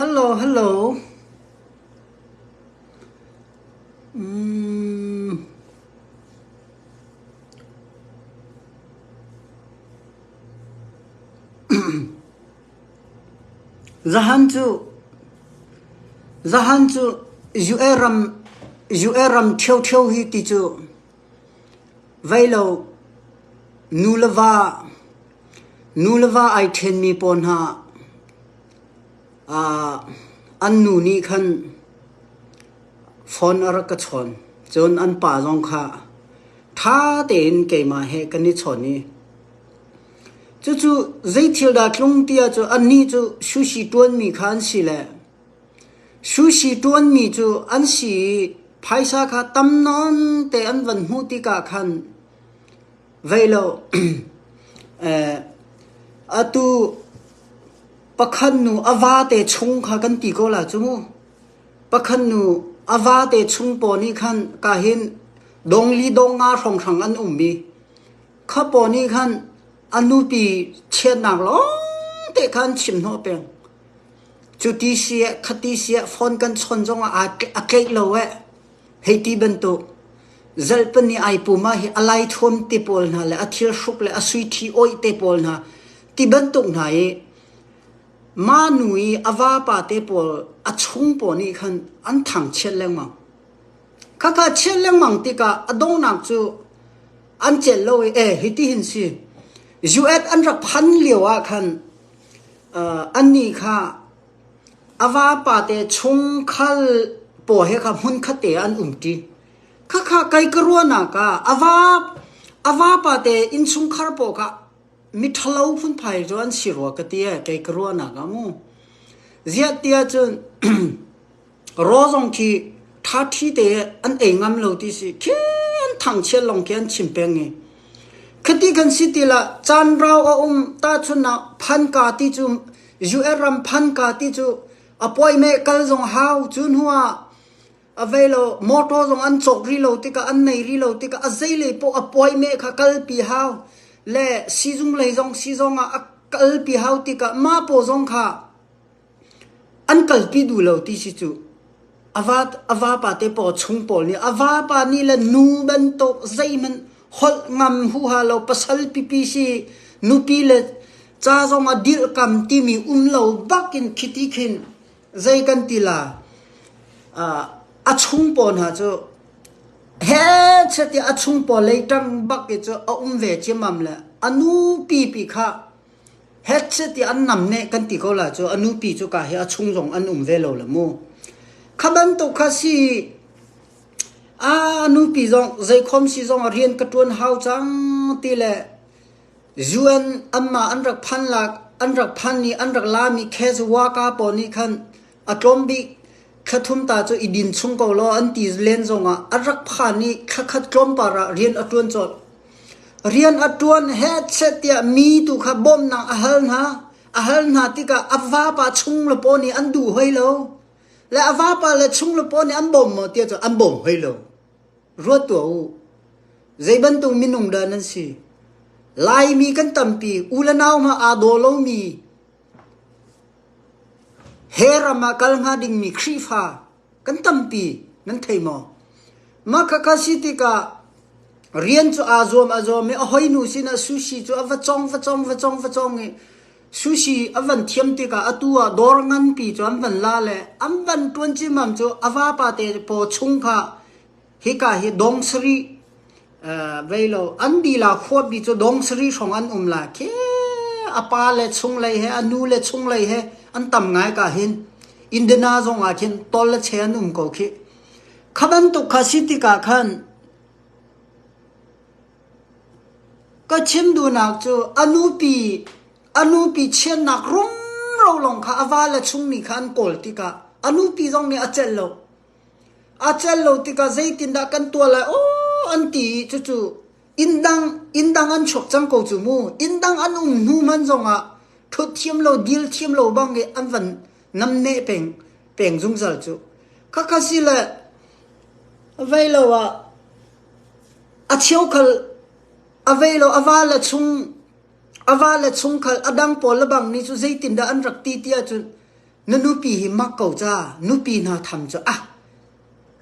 Hello hello umm Zahan cu Zahan cu U.A. ram U.A. ram ṭhioṭhio hi ti cu. Vai lo, nu le va ai ṭhenmi pawl hna an nu nih khan phone a rak ka chawn. Cun an pa zong kha ṭha tein keimah he kan i chawn i cucu zei thil dah a tlung ti ahcun annih cu sushi ṭuanmi kha an si le Sushi ṭuanmi cu an si i phaisa kha tam nawn te an van hmuh tikah khan vei lo atu pakhat nu a vate chung kha kan ti ko la cu mu. Pakhat nu a vate chung paw nih khan ka hin dong li dong nga hrawnghrang an um i kha paw nih khan a nupi chiatnak lawngte khan chim hnawh peng. Cu ti sieh, kha ti sieh phone kan chawn zongah a tleih lo ee. Hei ti bantuk. Zarh pahnih ai puma hi a lai thuam te pawl hna le a thilhruk le a suiṭhi awih te pawl hna ti bantuk hna i manu i a vapa te pawl a chung pawl nih khan an thangchiat lengmang. Khakha chiat lengmang tikah a donghnak cu an celh lo i, "E, hitihin si. US an rak phan lioah khan Annih kha a vapate chungkhar pawl he kha hmunkhatte ah an umṭi. Khakha kei ka ruahnak ah a vapate innchungkhar pawl kha miṭhalo phunphai cu an si rua ka ti ee, kei ka ruahnak ah mu. Ziah tiah cun Raw zong khi ṭhaṭhi te an ei ngam lo ti si. Khin thangchiat lawng khi an chim peng i khiti kan si til ah caan rau a um tahchun ah phanka ti cu US ram phanka ti cu appointment kal zong hau cu hnu ah a vei lo motor zong an cawk rih lo tikah an nei rih lo tikah a zei lei poh appointment kha kalpi hau le sizung lei zong sizong ah a kalpi hau tikah mah paw zong kha An kalpi duh lo ti si cuh. A vapa te paw chung pawl nih a vapa nih le nu bantuk zeihmanh holh ngam huha lo pasal pipi si, nupi le ca zong a dirhkam timi um lo bak in khiti khin zei kan ti la, a chung pawl hna cu hehche tiah a chung pawl lei ṭang bak i cu a um ve ciammam le a nupi pi kha. Phet seh tiah an nam neh kan ti ko lah cu a nupi cu ka hi a chung zong an um ve lo la mu. Kha bantuk kha si a nupi zong zeikhom si zong a rian ka ṭuan hau cang ti le UN anmah an rak phan lak an rak phan i an rak lami Khezwa ka pawl nih khan A tlawm bik thla thum ta cu i din chung ko law an ti len zongah a rak phan i thla khat tlawmpal ah rian a ṭuan colh. Rian a ṭuan he seh tiah mi tu kha bawmnak a hal hna. A hal hna tikah a vapa chung le paw nih an duh hoi lo. Le a vapa le chung le paw nih an bawm maw tiah cu an bawm hoi lo. Ruat tuah u. Zei bantuk minung dah nan si? Laimi kan tampi u le nau ma aa daw lomi He ram ah kal hnga dingmi Khrihfa kan tampi nan thei maw? Mah khakha si tikah rian cu aa zuam a zuam i a hoinu sinah sushi cu a va cong, va cong, va cong, va cong i sushi a van thiam tikah atu ah dawr nganpi cu an van la le an van ṭuan cimmam cu a vapa te paw chung kha Hika hi dong sarih veilo an dila khuapi cu dong sarih hrawng an um lai khi a pa le chunglei he a nu le chunglei he an tam ngai ka hin Indiana zong ah khin tol le che an um ko khi kha bantuk kha si tikah khan ka chim duhnak cu a nupi a nupi chiatnak rum ro lawng kha a va le chung nih khan an kawl tikah a nupi zong nih a celh lo. aa celh lo tikah zeitindah kan tuah lai aw an ti i cucu inndang inndang an chuak cang ko cu mu. Inndang an um hnu hman zongah ṭhut thiam lo, dil thiam lo bang i an van namneh peng peng zungzal cu. Khakha si le vei lo ah a cheukhal a vei lo a va le chung a va le chung khal a dang pawl le bang nih cu zeitindah an rak ti ti ahcun Na nupi hi mak ko ca, nupi hna tham cu a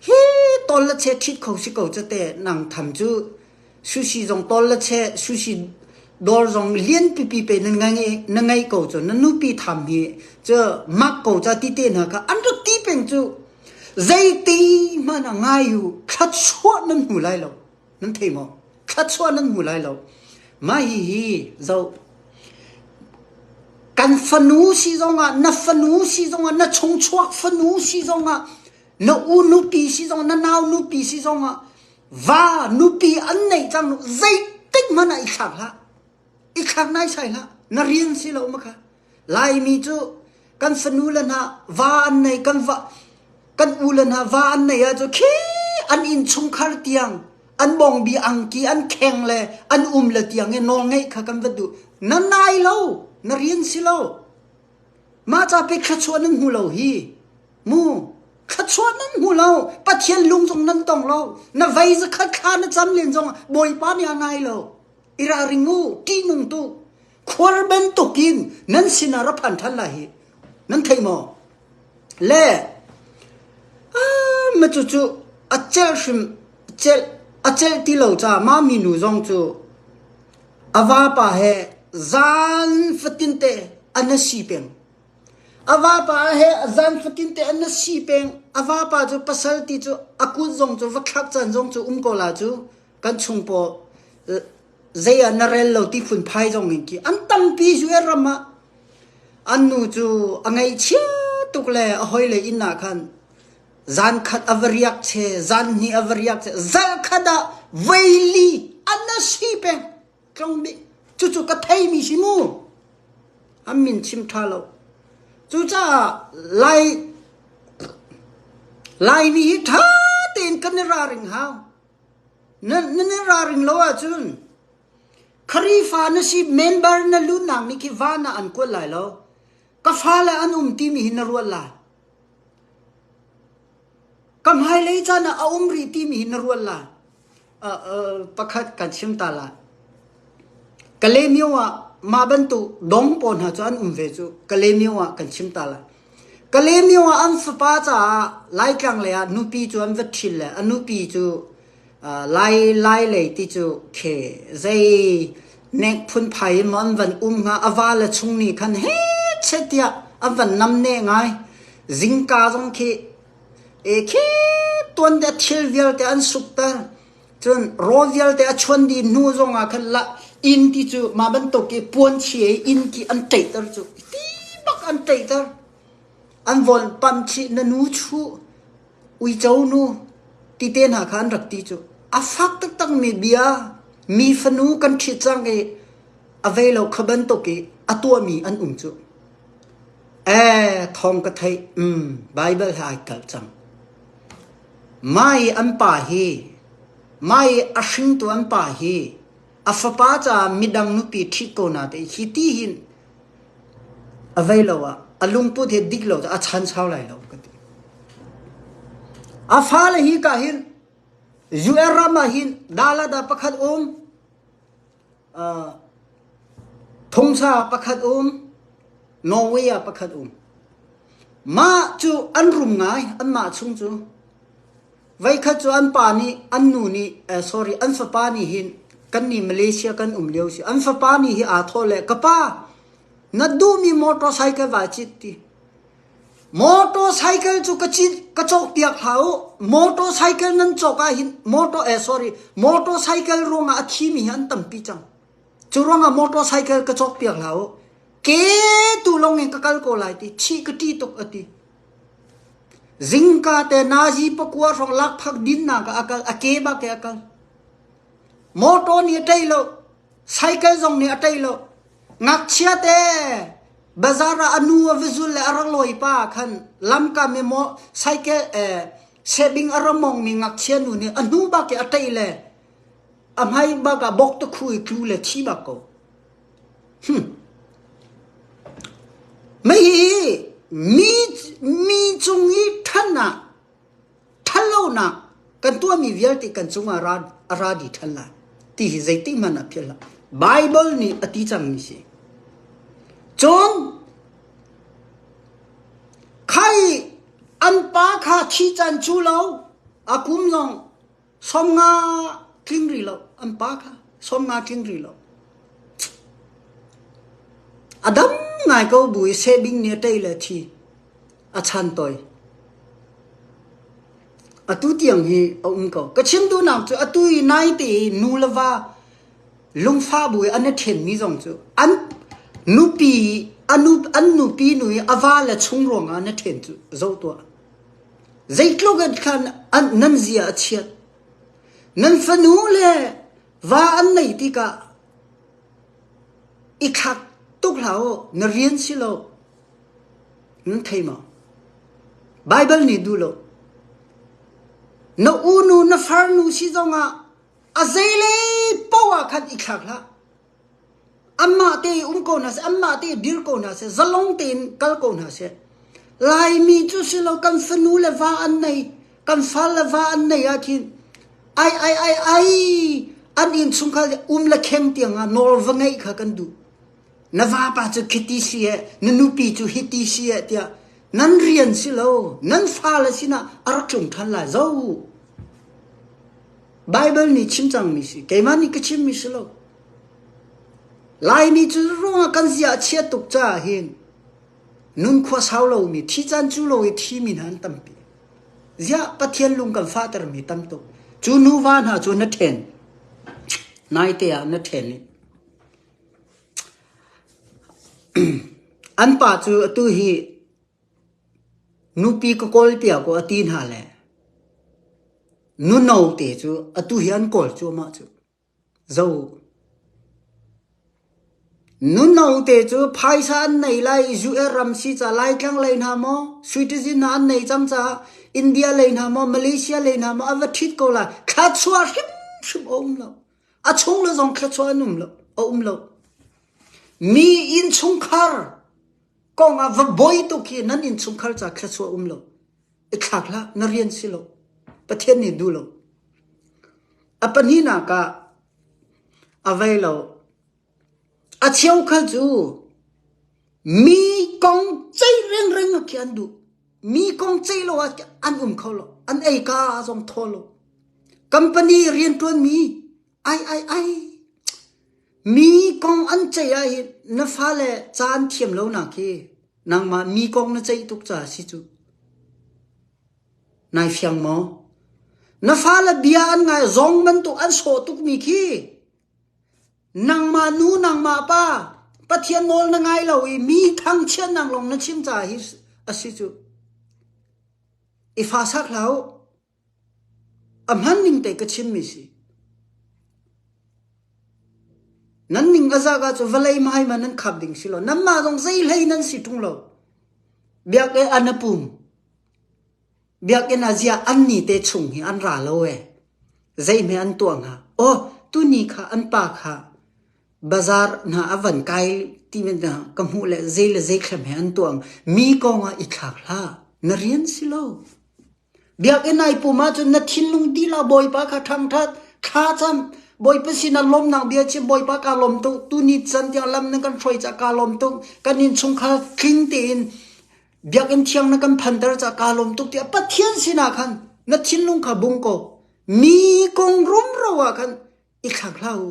hi tol la che ṭhit kho si ko ca te nang tham cu sushi zong tol la che sushi dawr zong lian pipi pe nan ngai na ngai ko cu na nupi tham hi cu mak ko ca ti te hna ka an rat ti peng cu zeiti hmanh a ngai u thlat chuah nan hmu lai lo nan thei maw thluachuah nan hmu lai lo mah hi hi zo kan fanu si zongah na fanu si zongah na chungchuak fanu si zongah na u nupi si zongah na nau nupi si zongah va nupi an nei cang zeitik hmanh ah i thlak hlah i thlak naisai hlah na rian si lo ma kha laimi cu kan fanu le hna va an nei kan va kan u le hna va an nei ahcun khi an innchungkhar tiang an bongbi angki an kheng le an um le tiang i nawl ngeih kha kan va duh na nai lo na rian si lo mah ca pe thluachuah nan hmu lo hi mu thluachuah nan hmu lo pathian lung zong nan tong lo na vei zakhat kha na cam len zong bawipa nih a nai lo i ralring u ṭihnung tu khuar bantukin nan sinah ra phan ṭhan lai hi nan theih maw le a ma cu cu a celh hrim celh a celh ti lo ca ma minu zong cu a vapa he zan fatin te an na si peng a vapa he a zan fatin te an na si peng a vapa cu pasal ti cu a kut zong cu va thlak can zong cu um ko la cu kan chung paw zei ah na rel lo ti phunphai zong in ki an tampi cu e ram ah an nu cu a ngei chia tuk le a hoi le inn ah khan zan khat a va riak che zan hnih a va riak che zal khat ah veili an na si peng tlong bi cucu ka thei mi si mu an min chim tha lo cucaah lai lai mi hi tha tein kan i ra ring hau Nan i ralring lo ahcun Kharifa na si member na luhnak nih khi van ah an kuat lai lo. Ka fale an um timi hi na ruat lai. Ka hmailei caan ah a um rih timi hi na ruat lai. Uh, uh, pakhat kan chim ta lai. Kalemyo ah mah bantuk dawng pawl hna cu an um ve cu Kalemyo ah kan chim ta lai. Kalemyo ah an fapa caah Laitlang lei ah nupi cu an va ṭhil le a nupi cu aa lai lai lei ti cu khe zei nek phunphai in maw an van um hnga a va le chung nih khan hechet tiah an van nam ne ngai. Zingka zong khi e khep tuan te a thil vialte an sukter. Cun rawl vialte a chuan dih hnu zongah khan la inn ti cu mah bantuk i puanchi i inn ti an ṭeihter cu ti bak an ṭeihter. An von pam chih nanu chu, uico nu ti te hna kha an rak ti cu. A fak taktakmi bia mi fanu kan ṭhit cang i a vei lo kha bantuk i a tuahmi an um cu. E, thawng ka theih, um, Baibal hla ai tel cang. Mai an pa hi, mai a hringtu an pa hi a fapa caah midang nupi ṭhit ko na te i khi ti hin a vei lo ah a lungput hi dik lo caah a chan sau lai lo ka ti. A fale hi ka hin UN ram ah hin dala da pakhat um Thumsa pakhat um, Norway ah pakhat um. Mah cu an rum ngai, anmah chung cu. Veikhat cu an pa nih, an nu nih, eh, sorry, an fapa nih hin, kan nih Malaysia kan um lio si. An fapa nih hi aa thawh le, ka pa, na duhmi motorcycle vai cit ti. Motor cycle cu ka cawkpiak hlah u. Motor cycle nan cawk ahhin motor cycle ruangah a thimi hi an tampi cang. Cu ruangah motor cycle ka cawkpiak hlah u. Ke tu lawngin ka kal ko lai ti chih ka ṭih tuk a ti. Zingka te nazi pakua hrawng lakphak dinnak ah a kal. A ke bak he a kal. Motor nih a ṭei lo. Cycle zong nih a ṭei lo. Ngakchiate, bazar ah a nu a va zul le a rak lawipa khan lamkam i maw saikeh eh, sebing a ra mongmi ngakchia nu nih a hnu bak i a ṭeih le a hmai bak ah bok tukhu i tlu le thi bak ko. Mei hi mi, mi cung i ṭhan ah ṭhatlonak kan tuahmi vialte kan cungah ra a ra dih ṭhan lai ti hi zeitik hmanh ah philh hlah. Baibal nih a ti cangmi si. Cun khai an pa kha khi can cu lo a kum lawng som nga tling ri lo an pa kha som nga tling ri lo a dam ngai ko bu i sebing nih a tei le thi a chan toi atu tiang hi a um ko ka chim tu nak cu atu i nai te nu le va lungfa bu i an then mi zong cu an nupi anu an nupi nu i ava le chung ruang ah na then cu zo tua Zeitluk in khan nan zia a chiat, nan fanu le va an nei tikah i thlak tuk hlah u, na rian si lo. Nan thei maw? Baibal nih duh lo. Na unu na farnu si zongah a zeilei paoh ah khan i thlak hlah. Anmah te i um ko hna seh, anmah te i dir ko hna seh, zalong tein kal ko hna seh. Laimi cu si lo kan fanu le va an nei, kan fal le va an nei ahkhin ai ai ai ai an innchungkhar um le kheng tiangah nawl va ngeih kha kan duh. Na vapa cu khiti si ee, na nupi cu hiti si ee tiah nan rian si lo, nan fale sinah a rak tlung ṭhan lai zo. Baibal nih chim cangmi si. Keimah nih ka chimmi si lo. Laimi cu ruangah kan zia a chia tuk caah hin nunkhua sau lomi, thi caan cu lo i thimi hna an tampi. Ziah Pathian lung kan fahtermi tam tuk. Cu nuva hna cu na ṭhen. Naite ah na ṭhen i an pa cu atu hi Nupi ka kawl piak u a ti hna le nu no te cu atu hi an kawl cuahmah cu. Zo. Nu no te cu phaisa an nei lai i US ram si caah Laitlang lei hna maw, Sweden ah an nei cang caah India lei hna maw, Malaysia lei hna maw a va ṭhit ko lai. Thluachuah hrimhrim a um lo. A chung le zong thluachuah an um lo, a um lo. Mi innchungkhar Kong ah va bawi tuk hi nan innchungkhar caah thluachuah a um lo. I thlak hlah, na rian si lo. Pathian nih duh lo. A pahnihnak ah a vei lo. A cheukhat cu mi kong ceih rengreng ah khi an duh. Mi kong ceih lo ah an um kho lo. An ei ka zong thaw lo. Company riantuan mi Ai ai ai. Mi kong an ceih ahhin na fale ca an thiam lonak hi nangmah mi kong na ceih tuk caah si cu. Nai fiang maw? Na fale bia an ngai zong bantuk an sawh tukmi khi nangmah nu nangmah pa Pathian nawl na ngai lo i mi thangchiat nang lawng na chim caah hi a si cu. I fa sak hlah u. A hman ning tei ka chimmi si. Nan ning a zak ahcun vawlei hmai ma nan khap ding si lo. Nanmah zong zeihlei nan si ṭung lo. Biakinn an a pum. Biakinn ah ziah an ni te chung hi an ra lo ee. Zeihme an tuah hnga? Aw, tuni kha an pa kha bazaar hna a van kai ti men hna ka hmuh le zei le zei thlem he an tuang. Mi kong ah i thlak hlah. Na rian si lo. Biakinn ai pum ahcun na thinlung dilah Bawipa kha ṭhangṭhat. Thla cam. Bawipa sinah lawmnak bia chim, Bawipa kaa lawm tuk. Tuni can tiang lam na kan hruai cah kaa lawm tuk. Kan innchungkhar tling tein biakinn thiang na kan phanter cah kaa lawm tuk tiah Pathian sinah khan na thinlung kha bung ko. Mi kong rumro ah khan i thlak hlah u.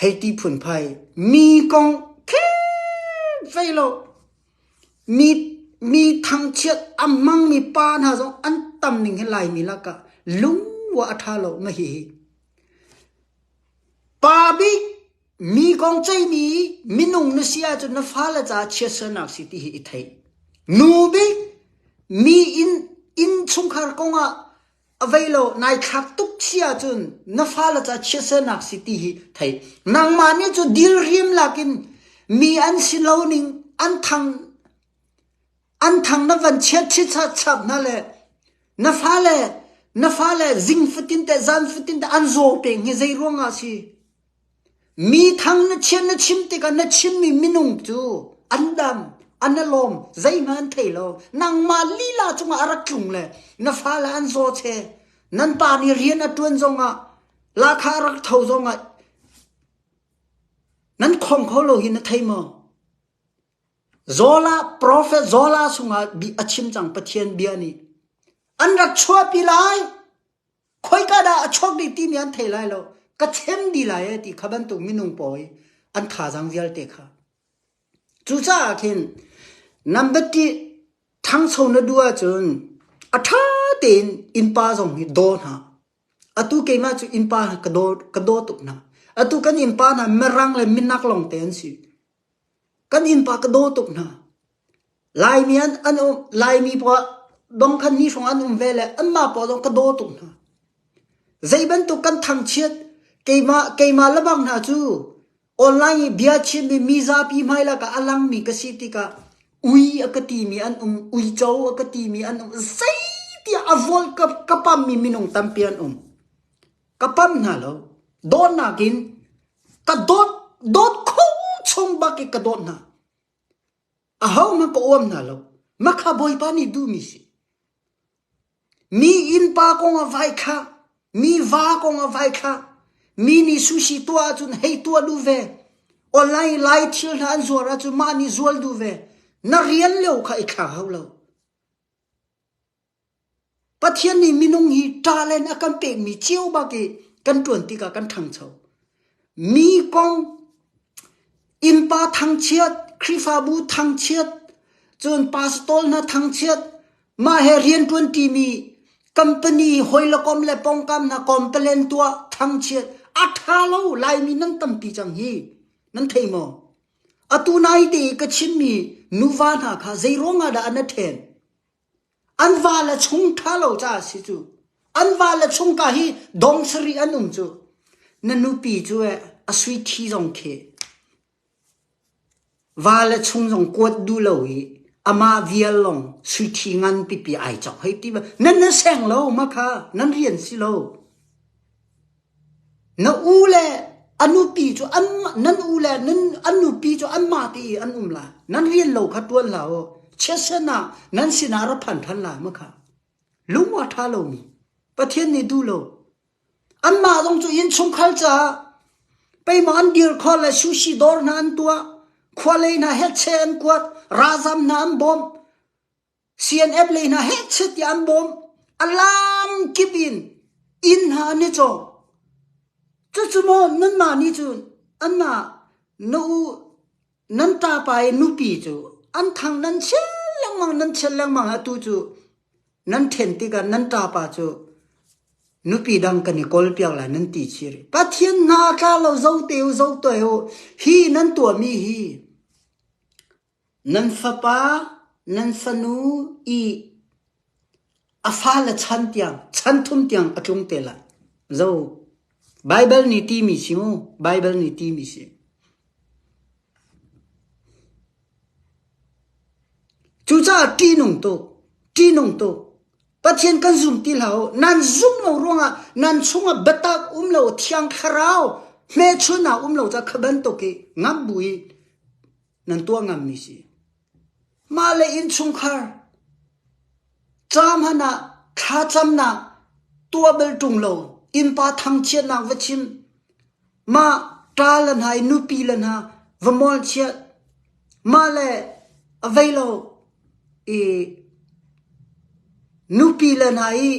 Hei ti phunphai, mi kong kheng fei law, mi thangchiat a hmangmi pa hna zong an tam ning hi Laimi lakah lungua a ṭha lo na hihi. Pa bik mi kong ceimi minung na si ahcun na fale caah chiatsernak si ti hi i theih. Nu bik mi inn chungkhar kongah A vei lo nai thlak tuk thi ahcun na fale cu a chiahsernak si ti hi theih. Nangmah nih cu dilrim lakin mi an si lo ning an thang an thang na van chiat chap hna le na fale na fale zing fatin te zan fatin te an zaw peng hi zei ruangah a si? Mithang na chiah na chim tikah na chimmi minung cu an dam, an a lawm, zeihmanh an thei lo. Nangmah lila cungah a rak tlung le na fale an zawche, nan pa nih rian a ṭuan zongah, lahkhah a rak tho zongah nan khong kho lo hi na thei maw? Zola, profet Zola sungah a chim cang Pathian bia nih, an rak chuahpi lai. khoika dah a chuak dih timi an thei lai lo ka chim dih lai ti kha bantuk minung pawi an thazang vialte kha cucaah khin nambat ti thangso na du ahcun a tha tein innpa zong hi daw hna atu keimah cu innpa ka daw ka daw tuk hna atu kan innpa hna mirang le minak longte an si Kan innpa ka daw tuk hna. Laimi an an um Laimi poah dongkhan ni hrawng an um ve le anmah poah zong ka daw tuk hna. Zeibantuk kan thangchiat keimah keimah le bang hna cu online i bia chimmi mizapi hmai lakah a langmi ka si tikah ui a ka timi an um, uico a ka timi an um. Zei tiah a volk ka pammi minung tampi an um. ka pam hna lo dawtnak in ka dawt dawt kho chung bak i ka dawt hna aho hmang ka uam hna lo makha bawipa nih duhmi si mi innpa kong a vai kha mi va kong a vai kha mi nih sushi tuah ahcun hei tuah duh ve online lai thil hna an zuar ahcun mah nih zual duh ve na rian leo kha i kha hau lo Pathian nih minung hi ṭah le in a kan pekmi cio bak i kan ṭuan tikah kan ṭhangcho. Mi kong, innpa thangchiat, Khrihfabu thangchiat, cun pastor hna thangchiat, mah he rian ṭuanṭimi, company hawilakom le pawngkam hna compalen tuah thangchiat, a ṭha lo Laimi nan tampi cang hi, nan thei maw? Atu naite i ka chimmi nuva hna kha zeiruangah dah an na ṭhen? An vale chung ṭha lo caah a si cu. An vale chung ka hi dong sarih an um cu. Na nupi cu eh a suithi zong khi vale chung zong kuat duh lo i amah vial lawng suithi ngan pipi ai cawk hei ti. Nan na seng lo ma kha nan rian si lo. Na u le a nupi cu nan u le an nupi cu anmah te i an um lai. Nan rian lo kha ṭuan hlah u. Chiatsen ah nan sinah ra phan ṭhan lai maw khah? Lung a ṭha lomi, Pathian nih duh lo. Anmah zong cu innchungkhar caah peihmaw an dirkhor le sushi dawr hna an tuah, khua lei hna hetche an kuat, ralzam hna an bawmh. CNF lei hna hehchet tiah an bawm. A laam kip in inn hna an i cawk. Cucu maw nanmah nih cun anmah na u nan ṭapa i nupi cu an thang nan chiat lengmang nan chiat lengmang atu cu nan ṭhen tikah nan ṭapa cu nupi dang kan i kawl piak lai nan ti chih rih. Pathian hna tla law zote u zote u hi nan tuahmi hi Nan fapa, nan fanu i a fale chan tiang, chan thum tiang a tlung te lai. Zo, Baibal nih timi si mu, Baibal nih timi si. Cucaah ṭihnung tuk, ṭihnung tuk. Pathian kan zum ti hlah u. Nan zum lo ruangah nan chungah biatak um lo, Thiang Thlarau hmehchunh ah um lo ca kha bantuk i ngam bu i nan tuah ngammi si. Mahle innchungkhar ca hmanh ah thlacamnak tuah bal ṭung lo innpa thangchiatnak va chim mah ṭa le hna i nupi le hna va mol chiat mah le avei lo i nupi le hna i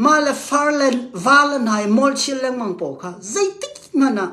mah le far le va le hna i mol chiat lengmang pawl kha zeitik hmanh ah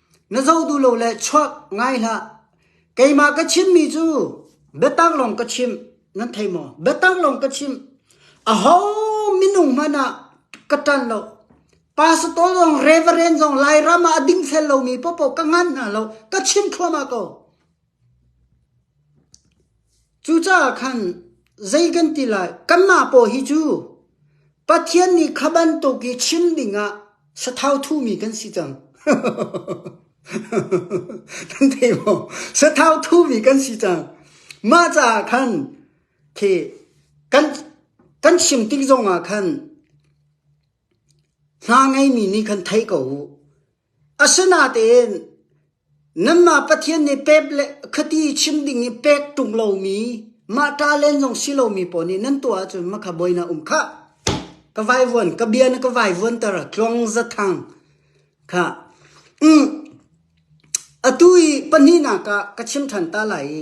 Na zo duh lo le chuak ngai hlah. Keimah ka chimmi cu biatak lawng ka chimh, nan thei maw? Biatak lawng ka chimh. Aho minung hmanh ah ka ṭan lo. Pastor zong, Reverend zong Lairam ah a ding fel lomi paohpaoh ka nganh hna lo. Ka chim thluahmah ko. Cucaah khan zei kan ti lai? Kanmah pawl hi cu Pathian nih kha bantuk i chim dingah sathauthumi kan si cang. Kan thei maw? Sathauthumi kan si cang. Mah caah khan khi kan, kan chim tik zongah khan hna ngeimi nih khan theih ko u. Asinain nanmah Pathian nih pek le khuati chim ding i pek ṭung lomi mah ṭa len zong si lomi pawl nih nan tuah ahcun mah kha buainak a um khah. Ka vaivuan, ka bia na ka vaivuanter tluang zathang kha. Atu i pahnihnak ah ka chim ṭhan ta lai i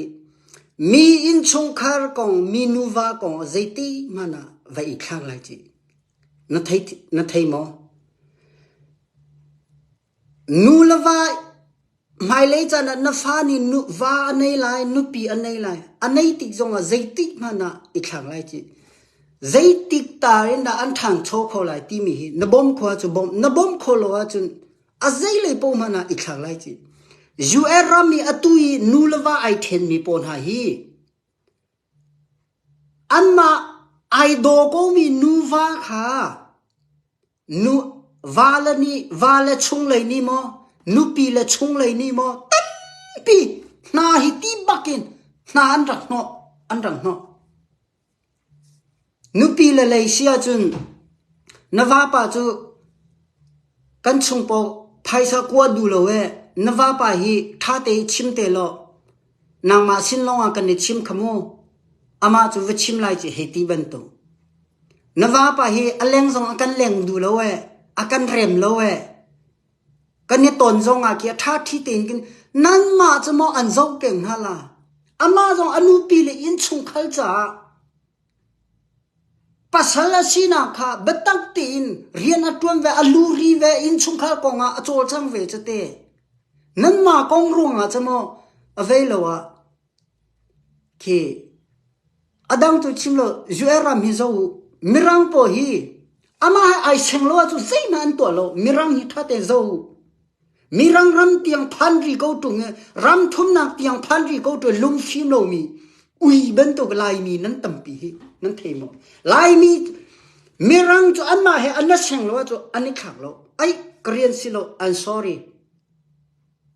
mi innchungkhar kong, mi nuva kong ah zeitihmanh ah va i thlak lai cih. Na thei maw? Nu le va hmailei caan ah na fa nih va a nei lai, nupi a nei lai. A nei tik zongah zeitik hmanh ah i thleng lai cih. Zeitik tar in dah an ṭhangcho kho lai timi hi na bawmh khawh ahcun bawmh, na bawmh khawh lo ahcun a zeilei paoh hmanh ah i thleng lai cih. US ram i atu i nu le va ai ṭhenmi pawl hna hi Anmah ai daw komi nuva kha vale nih vale chunglei nih maw nupi le chunglei nih maw tampi hna hi ti bakin hna an rak hnawh. Nupi le lei si ahcun na vapa cu kan chung pawh phaisa kua duh lo ee na vapa hi ṭha te i chim te law nangmah sin lawngah kan i chim kha mu amah cu va chim lai cu hei ti bantuk. Na vapa hi a leng zong a kan leng duh lo ee a kan rem lo ee kan i ton zongah khi a ṭha ṭhi tein kin nanmah cu maw an zoh peng hnga la amah zong a nupi le innchungkhar caah Pasal a sinak kha biatak tein rian a ṭuan ve, a luri ve, innchungkhar kongah a cawlcang ve cu te. Nanmah kong ruangah cu maw a vei lo ah khi a dang tu chim lo US ram hi zoh u, Mirang pawl hi amah he ai seng lo ahcun zeihmanh an tuah lo, Mirang hi ṭha tein zoh u. Mirang ram tiang phan rih ko ṭung i ram thumnak tiang phan rih ko ṭung i lungfim lomi ui bantuk Laimi nan tampi hi nan thei maw? Laimi Mirang cu anmah he an la seng lo ahcun an i khang lo. Ai Korean si lo, I'm sorry.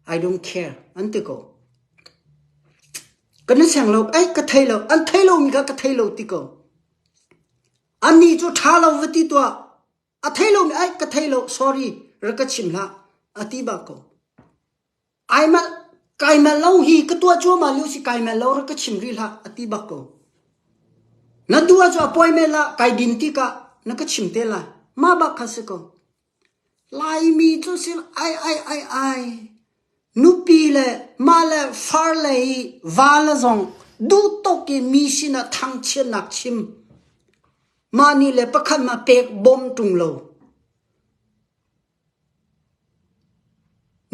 I don't care. An ti ko. Kan i seng lo, ai ka thei lo, an thei lomi kha ka thei lo ti ko. Anih cu ṭha lo va ti tuah. A thei lomi aih ka thei lo sorry rak ka chim hlah a ti bak ko. Ai mal kai mal lo hi ka tuah cuahmah lio si kai mal lo rak ka chim rih hlah a ti bak ko. Na duah cu appointment la kai dim tikah na ka chim te lai. Ma bak kha si ko. Laimi cu si ai ai ai ai Nupi le mah le far le i vale zong duhtuk in mi sinah thangchiatnak chim. Mah nih le pakhat a pek bawm ṭung lo.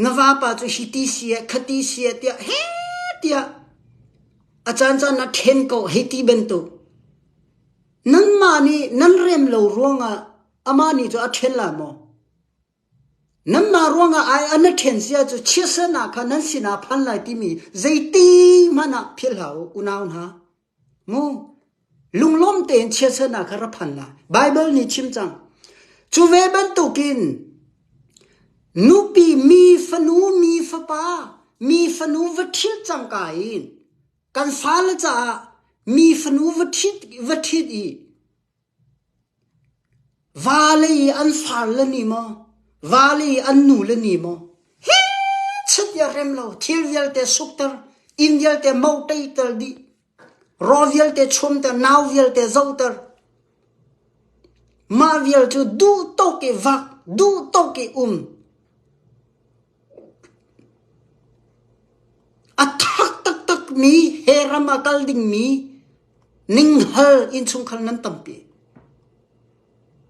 Na vapa cu hiti sieh, khati sieh tiah heh tiah a caancaan a ṭhen ko hei ti bantuk. Nanmah nih nan rem lo ruangah amah nih cu a ṭhen la maw? Nanmah ruangah ai a na ṭhen si ahcun chiatsernak kha nan sinah a phan lai timi zeitiihmanh ah philh hlah u, unau hna. Mu, lunglawm tein chiatsernak kha ra phan hlah. Baibal nih a chim cang. Cu ve bantukin nupi mi fanu mi fapa mi fanu va ṭhit cangka in kan fale caah mi fanu va ṭhit, va ṭhit i Vaalei i an farle nih maw, vaalei i an nule nih maw, hi chit i a rem lo, thil vialte sukter, inn vialte mohteiter dih, raw vialte chuamter, nau vialte zohter. Mah vial cu duh tuk i vak, duh tuk i um. A thak taktakmi he ram ah kal dingmi ninghal innchungkhar nan tampi.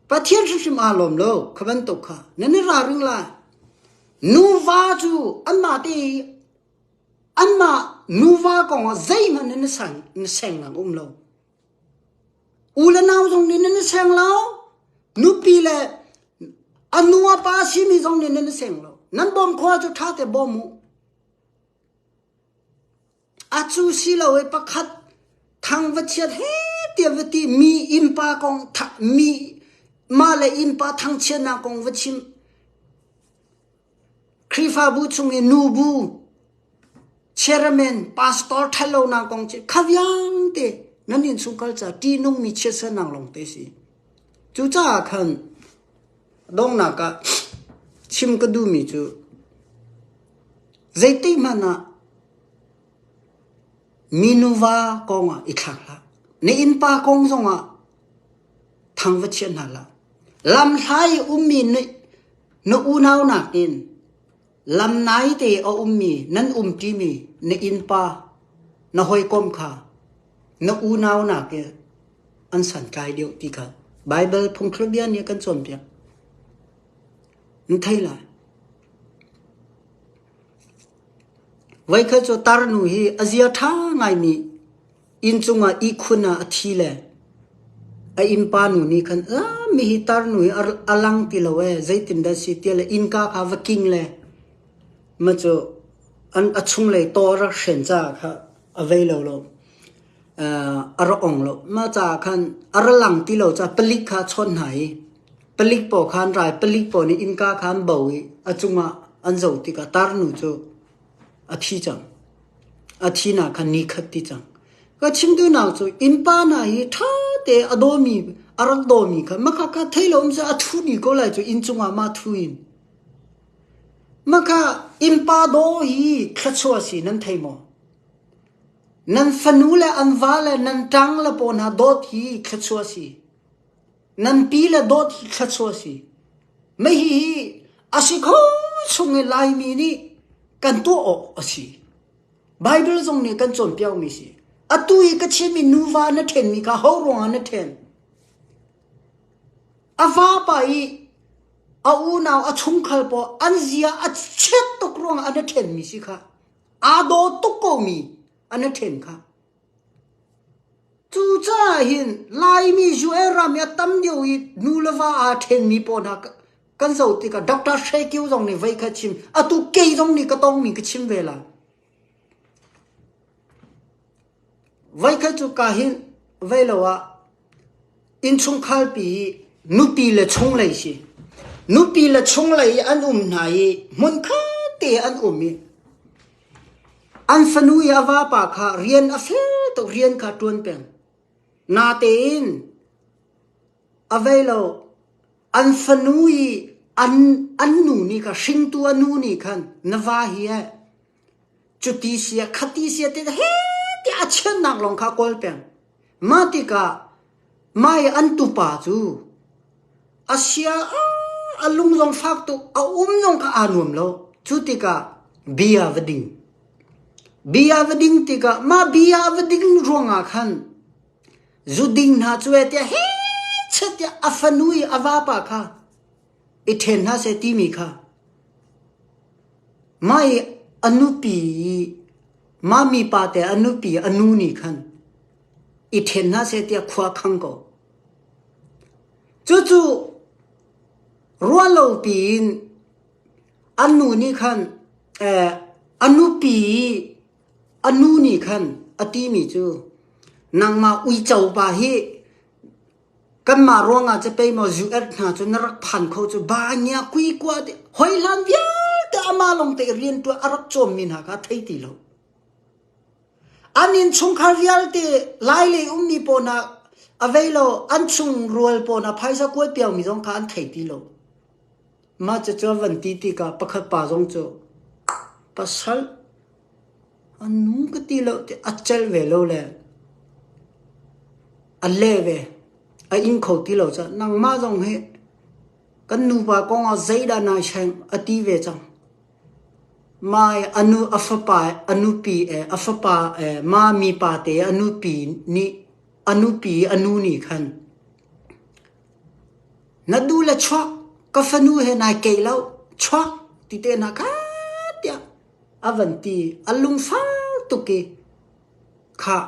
Pathian hrimhrim aa lawm lo kha bantuk kha nan i ralring lai. Nuva cu anmah te i anmah nuva kong ah zeihmanh in na seng lang um lo. U le nau zong nih nan i seng lo. Nupi le a nu a pa a simi zong nih nan i seng lo. Nan bawm khua cu ṭha te bawm u. A cu si lo i pakhat thang va chiat he ti a va ti mi innpa kong mi mah le innpa thangchiatnak kong va chim. Khrihfabu chung i nubu, chairman, pastor ṭhatlonak kong cu kha vialte nan innchungkhar caah ṭihnungmi chiatsernak lawngte a si. Cucaah khan donghnak ah chim ka duhmi cu zeitikhmanh ah minu va kongah i thlak hlah. Na innpa kong zongah Thang va chiah hna hlah. Lamhlai ummi na unau nakin lam naite a ummi nan umṭimi na innpa, na hawikom kha na unau nakin an santlai deuh ti kha Baibal phungthlukbia nih a kan cawnpiak. Na thei lai. Voikhat cu tarnu hi a zia ṭha ngaimi Inn cungah ihkhun ah a thi le a innpa nu nih khan mihi tarnu hi a lang ti lo ee, zeitindah a si tiah le innka kha va king le maw cu a chunglei taw a rak hren caah kha a vei lo lo. a rak ong lo. Mah caah khan a ra lang ti lo caah palik kha a chawnh hna i palik paw kha an ra i palik paw nih innka kha an bo i a cungah an zoh tikah tarnu cu a thi cang. A thinak kha ni khat ti cang. Ka chimtunak cu innpa hna hi ṭha te a dawmi, a rak dawmi kha maka ka thei lo um seh a thu ni ko lai cu inn cungah mah thu in. Maka innpa daw hi thluachuah si nan thei maw? Nan fanu le an va le nan ṭang le pawl hna dawt hi thluachuah si. Nampi le dawt hi thluachuah a si. Mei hihi a si kho chung i Laimi nih kan tuah awk a si. Baibal zong nih a kan cawnpiakmi a si. Atu i ka chim i nuva na ṭhenmi kha ho ruangah na ṭhen? A vapa i a unau a chungkhar pawl an zia a chiat tuk ruangah a na ṭhenmi si kha, aa daw tuk komi a na ṭhen kha, Cucaah hin Laimi US ram hi a tam lio i nu le va aa ṭhenmi pawl hna kan zoh tikah Doctor Shea Kyaw zong nih vei kha a chim. Atu kei zong nih ka tawngmi ka chim ve la. Vei kha cuka hin vei lo ah Innchungkhar pi nupi le chunglei si. Nupi le chunglei an um hna i hmunkhat te an um i an fanu i a vapa kha rian a fel tuk, rian kha a ṭuan peng. Natein a vei lo, an fanu i an nu nih khan, hringtu a nu nih khan na va hi ai. Cuti sia, khati sia tiah heh tiah a chiannak lawng kha a kawl peng. Mah tikah mah i an tupa cu a sia a lung zong fak tuk, a um zong kha aa nuam lo. Cu tikah bia va ding. Bia va ding tikah mah bia a va ding ruangah khan zuding hna cu ee tiah heh chiat tiah a fanu i a vapa kha i ṭhen hlah seh timi kha mah i a nupi mah mipa te a nupi a nu nih khan i ṭhen hlah seh tiah khua a khang ko. Cucu ruah lo piin a nu nih khan eh, a nupi a nu nih khan a timi cu nangmah uico pa hi Kanmah ruangah capei maw US hna cu na rak phan kho cu Banya kuikua te hoi hlan vialte amah lawngte i rianṭuan a rak cawmmi hna kha thei ti lo. An innchungkhar vialte lailei ummi pawl hna a vei lo an chung rual pawl hna phaisa kuai piakmi zong kha an thei ti lo. Mah cucu a van ti tikah pakhat pa zong cu pasal a nu ka ti lo ti a celh ve lo le a leh ve, a ing kho ti lo cah. Nangmah zong hi kan nupa kongah zeidah naa seng a ti ve cang. Mai a nu a fapa a nupi eh a fapa eh mami pa te a nupi nih a nupi i a nu nih khan Na dul a chuak, ka fanu he nai keih loh, chuak ti tehna ka tiah a van ti. A lungfar tuk i, khah,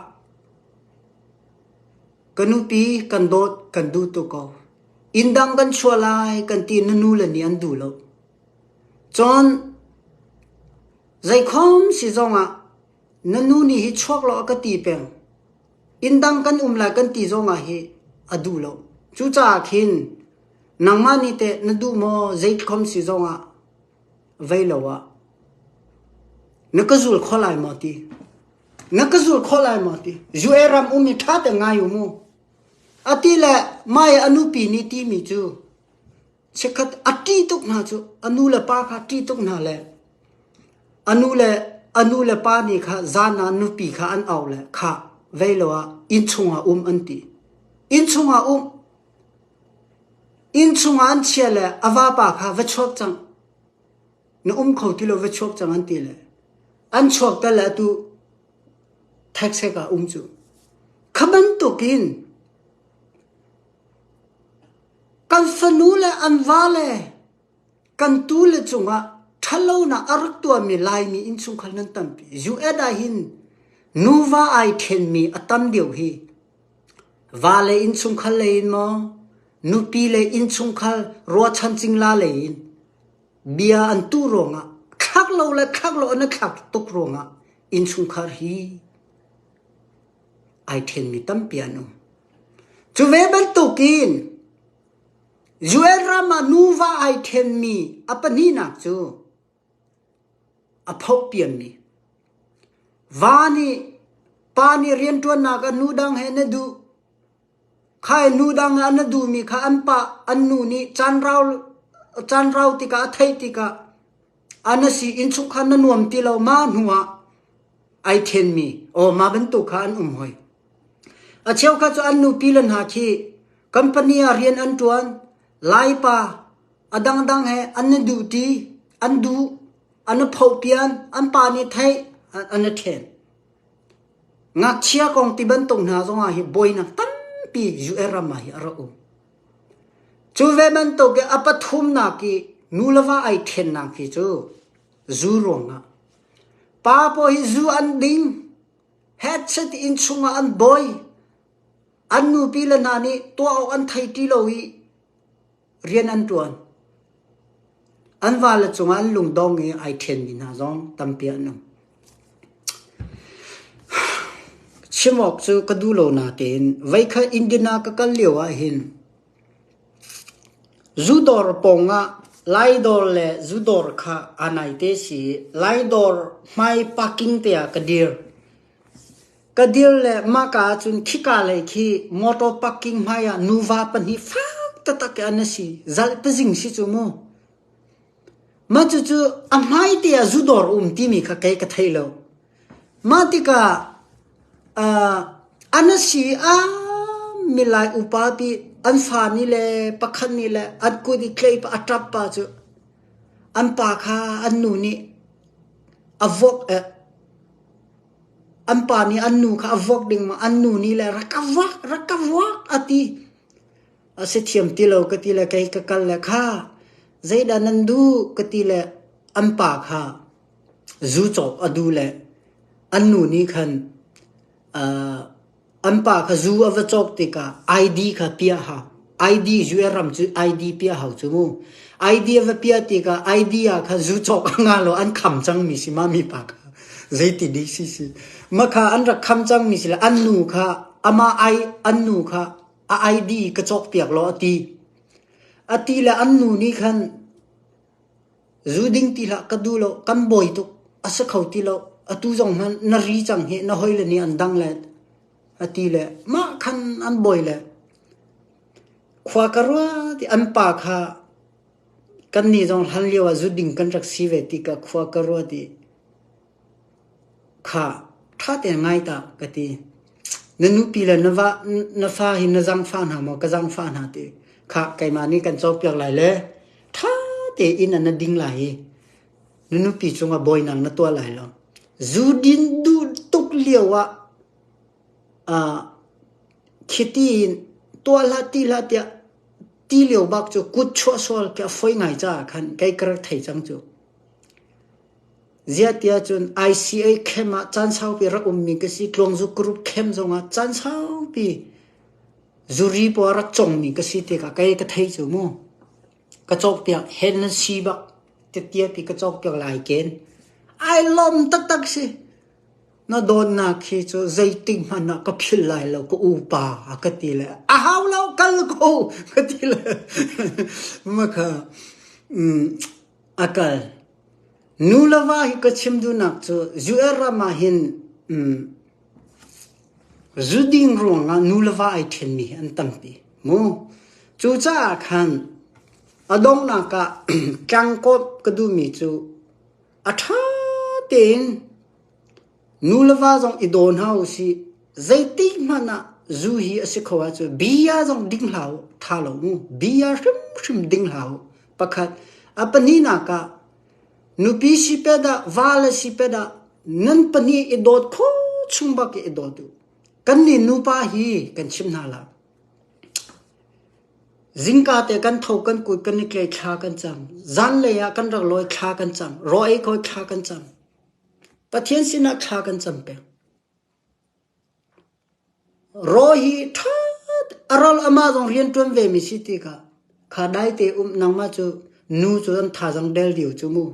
ka nupi kan dawt kan duh tuk ko. Inn dang kan chuah lai kan ti i na nu le nih an duh loh. Cun zeikhom si zongah na nu nih hi chuak law a ka ti peng. Inn dang kan um lai kan ti zongah hi a duh lo. Cucaah khin nangmah nih teh na duh maw zeikhom si zongah vei lo ah na ka zul kho lai maw ti? Na ka zul kho lai maw ti? UA ram um hi ṭha te ngai u mu. A ti le mah i a nupi nih timi cu Chikkhat a ṭih tuk hna cu a nu le pa kha a ṭih tuk hna le a nu le a nu le pa nih kha zan ah nupi kha an auh le khah vei lo ah inn chungah um an ti. Inn chungah um, inn chungah an chia le a vapa kha va chuak cang, na um kho ti lo va chuak cang an ti le an chuak tal le atu thekset ah um cu. Kha bantuk in Kan fanu le an vale kan tu le cungah ṭhatlonak a rak tuahmi Laimi innchungkhar nan tampi. US ahhin nuva ai ṭhenmi a tam deuh hi vale innchungkhar lei in maw, nupi le innchungkhar ruahchan cingla lei in bia an tuh ruangah, thlak lo le thlak lo an i thlak tuk ruangah innchungkhar hi ai ṭhengmi tampi an um. Cu ve bantukin Joel ram ah nuva ai ṭhenmi a pahnihnak cu a phohpiammi. Va nih pa nih rianṭuannak ah nu dang he na duh? Khainu dang i na duhmi kha an pah, an nu nih caanrau tikah a theih tikah a na si innchungkhar na nuam ti lo ma hnuah ai ṭhenmi aw mah bantuk kha an um hoi. A cheukhat cu an nupile hna khi company ah rian an ṭuan, Laipa a dangdang he an i duhṭi, an duh, an i phoh pian, an pa nih theih, an i ṭhen. Ngakchia kong ti bantuk hna zongah hi buainak tampi US ram ah hi a rak um. Cu ve bantuk i a pathumnak i nu le va ai ṭhennak hi cu zu ruangah. Pa pawl hi zu an ding, headset in chungah an boi, an nupi le hna nih tuah awk an thei ti lo i rian an ṭuan. An vale cungah an lungdong i ai ṭhenmi hna zong tampi an um. Chim awk cu ka duh lo natein veikhat Indian ah ka kal lio ahhin zu dawr pawng ah lai dawr le zu dawr kha aa nai te si i lai dawr hmai parking te ah ka dir. Ka dir le mahka ahcun khika lei khi motor parking hmaiah nuva pahnih fak taktak an si. Zalh pazing si cu mu. Mah cucu a hmai te ah zudor um timi kha kei ka thei lo. Mah tikah uh, an si a milai upa pi an fa ni le pakhat ni le an kut i tlei pa atap pa cu an pa kha an nu nih a vok eh An pa nih an nu kha a vuak ding ma, an nu nih le rak ka vuak, rak ka vuak a ti. A si thiam ti lo ka ti le kei ka kal le kha zeidah nan duh ka ti le an pa kha zu cawk a duh le an nu nih khan aa An pa kha zu a va cawk tikah ID kha piah hau, ID US ram cu ID piah hau cu mu. ID a va piah tikah ID ah khan zu cawk a nga lo an kham cangmi si ma mipa kha zeitinik si si. Makha an rak kham cangmi si le an nu kha amah ai- an nu kha a ID ka cawk piak law a ti. A ti le an nu nih khan Zu ding ti hlah ka duh loh, kan bawi tuk, a si kho ti loh, atu zong hmanh na ri cang hi na hawile nih an dang let, a ti le mah khan an bawi le khua ka rua ti an pa kha kannih zong hlan lio ah zu ding kan rak si ve ti ka khua ka rua ti. Khah, ṭha te ngai ta ka ti. Na nupi le na fa hi na zaangfah hna maw, ka zaangfah hna ti. Khah, keimah nih kan cawnpiak lai le ṭha tein na ding lai i na nupi cungah bawinak na tuah lai lo. Zudin duh tuk lio ah khiti in tuah hlah, ti hlah tiah ti lio bak cu kut chuah sual khi a foi ngai caah khan kei ka rak thei cang cu. Ziahtiah cun ICA camp ah caan saupi rak ummi ka si. Tluangzuk group camp zongah caan saupi zuri paw rak congmi ka si tikah kei ka thei cu mu. Ka cawkpiak hen nan si bak tiatiapi ka cawkpiak lai ken. Ai lom taktak si. Na dawtnak khi cu zeitik hmanh ah ka philh lai lo ka upa a ka ti le a hau lo kal ko ka ti le makha mm, a kal Nu le va hi ka chim duhnak cu US ram ah hin zu ding ruangah nu le va ai ṭhenmi hi an tampi mu. Cucaah khan a donghnak ah tlangkawp ka duhmi cu a ṭha tein Nu le va zong i daw hna u sih. Zeitikhmanh ah zu hi a si kho ahcun bia zong ding hlah u, tha lo mu. Bia hrimhrim ding hlah u. Pakhat, a pahnihnak ah, nupi si pet ah, vale si pet ah, nan pahnih i dawt kho chung bak i i dawt u. Kannih nupa hi kan chim hna la. Zingka te kan tho kan kut kan i tle thla kan cang. Zan lei ah kan rak lawi thla kan cang. Rawi koi thla kan cang. Pathian sinah thla kan cam peng. Raw hi ṭha a ral amah zong rianṭuan vemi si tikah kha daite um nangmah cu nu cu nan thazang del lio cu mu.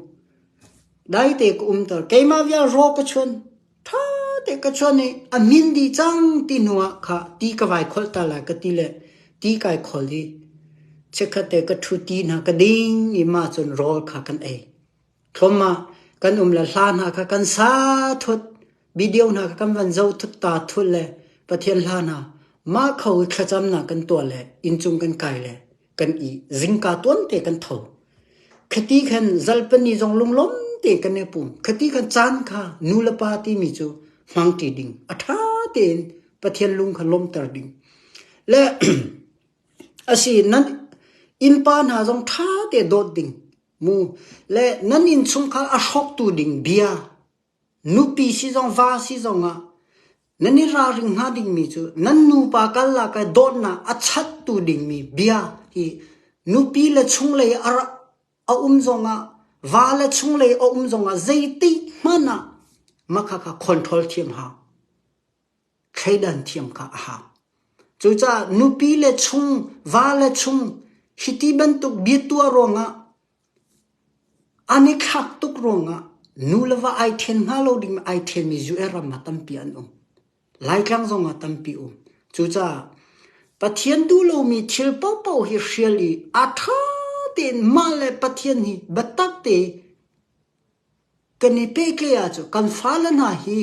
Daite ka umter. Keimah vial raw ka chuan ṭha te ka chuan i a min dih cang ti hnuah kha ti ka vai kholh ta lai ka ti le ti kai kholh i chikkhatte ka ṭhu ti hna ka ding i mah cun rawl kha kan ei. Thawmma, kan um le hla hna kha kan sa thut, video hna kha kan van zoh thut, ta thut le Pathian hla hna mah kho i thlacamnak kan tuah le inncung kan kai le kan i zingka tuante kan tho. Khati khan zalpani zong lunglawm te kan i pum. Khati khan caan kha nu le pa timi cu hmangṭi ding, a ṭha tein Pathian lung kha lawmter ding. Le asi nan innpa hna zong ṭha te dawt ding. Le nan innchungkhar a hrawktu ding bia, nupi si zong va si zongah nan i ralring hna dingmi cu nan nupa karlak i dawtnak a chattu dingmi bia hi nupi le chunglei a um zongah va le chunglei a um zongah zeitikhmanh ah makhakha control thiam hlah. thleidan thiam kha a hau. Cucaah nupi le chung, va le chung hiti bantuk bia tuah ruangah, an i thlak tuk ruangah nu le va ai ṭhen hnga lo ding ai ṭhenmi zu-er ram ah tampi an um. Laitlang zong ah tampi um. Cucaah Pathian duh lomi thil paohpaoh hi hrial i a ṭha tein mah le Pathian hi biatak tein Kan i pehtlai ahcun kan fale hna hi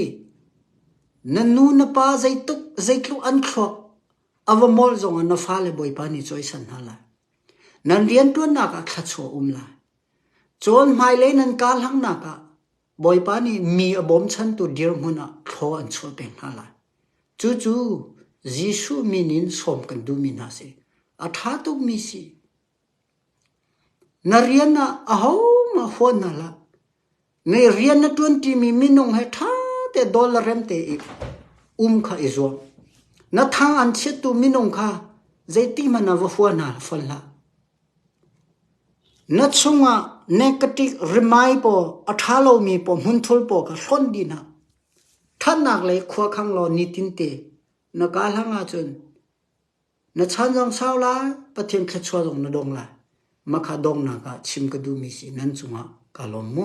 na nu na pa zeitluk zeitluk an thluak a va molh zongah na fale Bawipa nih cawisan hna lai. Nan rianṭuannak ah thluachuah a um lai. Cun hmailei nan karlangnak ah Bawipa nih mi a bawmchantu dirhmun ah thlaw an chuah peng hna lai. Cucu Jesuh min in sawm kan duhmi hna a si. A ṭha tukmi a si. Na rian ah ahohmah fawn hna hlah. Ngei rian na ṭuanṭimi minung he ṭha te dawl le rem tein um kha i zuam. Na tha an chiattu minung kha zeitihmanh ah va fua hna fawn hlah. Na chungah negative rimai paw a ṭha lomi paw hmunthul paw kha hlonh dih hna. Ṭhatnak lei khuakhang law nitin te na kaa hlang ahcun Na chan zong sau lai, Pathian thluachuah zong na dong lai. Mah kha donghnak ah chim ka duhmi si nan cungah kaa lawm mu.